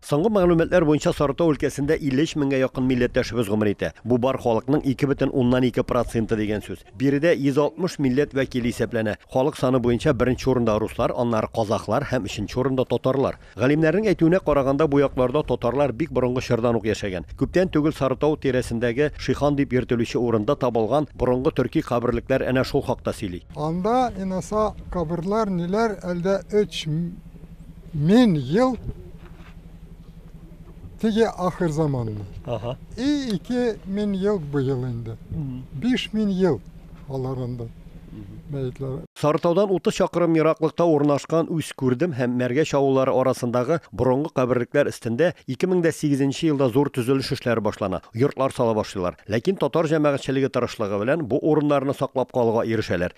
Соңгы мәгълүматлар буенча Сарытау өлкәсендә 53 меңгә якын милләттәшебез гомер итә. Бу бар халыкның 2 бөтен уннан ике проценты дигән сүз. Биредә 160 милләт вәкиле исәпләнә. Халык саны буенча беренче урында руслар, аннары казахлар һәм өченче урында татарлар. Галимнәрнең әйтүенә караганда, бу якларда татарлар бик борынгы чордан ук яшәгән. Күптән түгел Сарытау тирәсендәге Шихан дип йөртелүче урында табылган борынгы төрки каберлекләр әнә шул хакта сөйли. Анда, инаса, каберлар ниләр, әлдә өч. Мин ел теге ахыр заманны. Ага. И ике мин ел бу ел инде. Биш мин ел алар инде. Мәетләр. Сарытаудан 30 чакрым ераклыкта урнашкан Үз күрдем һәм Мәргә чавыллары арасындагы борынгы каберлекләр өстендә 2008 елда зур төзелеш эшләре башлана, йортлар сала башлыйлар. Ләкин татар җәмәгатьчелеге тырышлыгы белән бу урыннарны саклап калуга ирешәләр.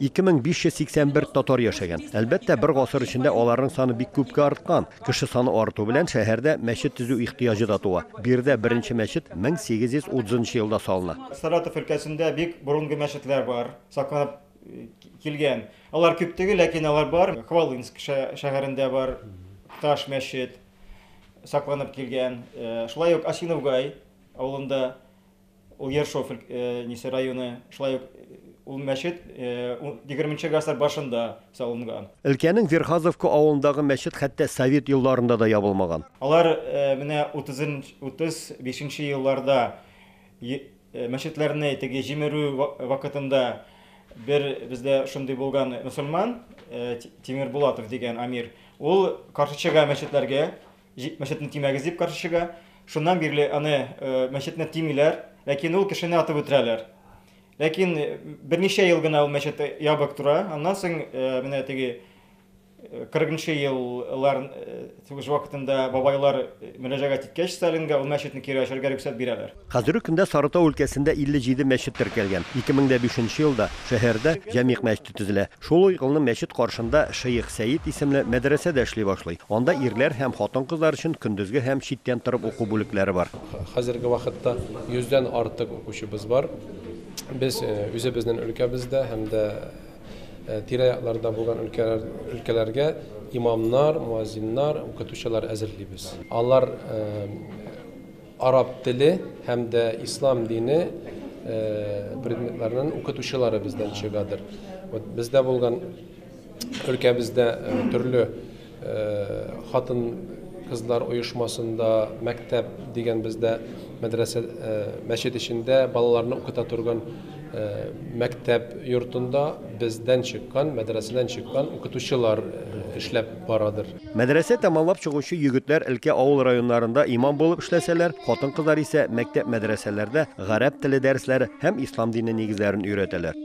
2581 татар яшәгән. Әлбәттә, бер гасыр эчендә аларның саны бик күпкә арткан. Кеше саны арту белән шәһәрдә мәчет төзү ихтыяҗы да туа. Биредә беренче мәчет 1830 елда салына. Саратов өлкәсендә бик борынгы мәчетләр бар, сакланып килгән. Алар күп түгел, ләкин алар бар. Хвалынск шәһәрендә бар таш мәчет сакланып килгән. Шулай ук Осиновгай авылында. Ул Ершов өлкәсе районы, шулай ук ул мәчет егерменче гасыр башында салынган. Өлкәнең Верхазовка авылындагы мәчет хәтта совет елларында да ябылмаган. Алар менә утыз бишенче елларда мәчетләрне теге җимерү вакытында бер бездә шундый булган мөселман, Тимербулатов дигән амир, ул каршы чыга мәчетләргә, Җик мәчетне тимәгез дип каршычыга. Шуннан бирле аны мәчетне тимиләр, ләкин ул кешене атып үтерәләр. Ләкин берничә ел гына ул мәчет ябык тора. Аннан соң менә теге 40 еллар сугыш вакытында бабайлар мөрәҗәгать иткәч Сталинга ул мәчетне кире ачарга рөхсәт бирәләр. Хәзерге көндә Сарытау өлкәсендә 57 мәчет теркәлгән. 2005 нче елда шәһәрдә Җәмигъ мәчете төзелә. Шул ук елны мәчет каршында Шеих Сәет исемле мәдрәсә дә эшли башлый. Анда ирләр һәм хатын-кызлар өчен көндезге һәм читтән торып уку бүлекләре бар. Хәзерге вакытта 100 дән артык укучыбыз бар. Без үзебезнен өлкәбездә һәм дә тирә-якларда булган өлкәләргә имамнар, муазиннар, укытучылар әзерлибез. Алар Араб теле һәм дә ислам дине предметларының укытучылары бездән чыгадыр. Вот бездә булган өлкәбездә төрле хатын кызлар оешмасында мәктәп дигән бездә мәдрәсә э, мәчет эчендә балаларны укыта торган э, мәктәп йортында бездән чыккан мәдрәсәдән чыккан укытучылар э, эшләп барадыр Мәдрәсә тәмамлап чыгучы егетләр өлкә авыл районнарында имам булып эшләсәләр, хатын-кызлар исә мәктәп-мәдрәсәләрдә гарәп теле дәресләре һәм ислам дине нигезләрен өйрәтәләр.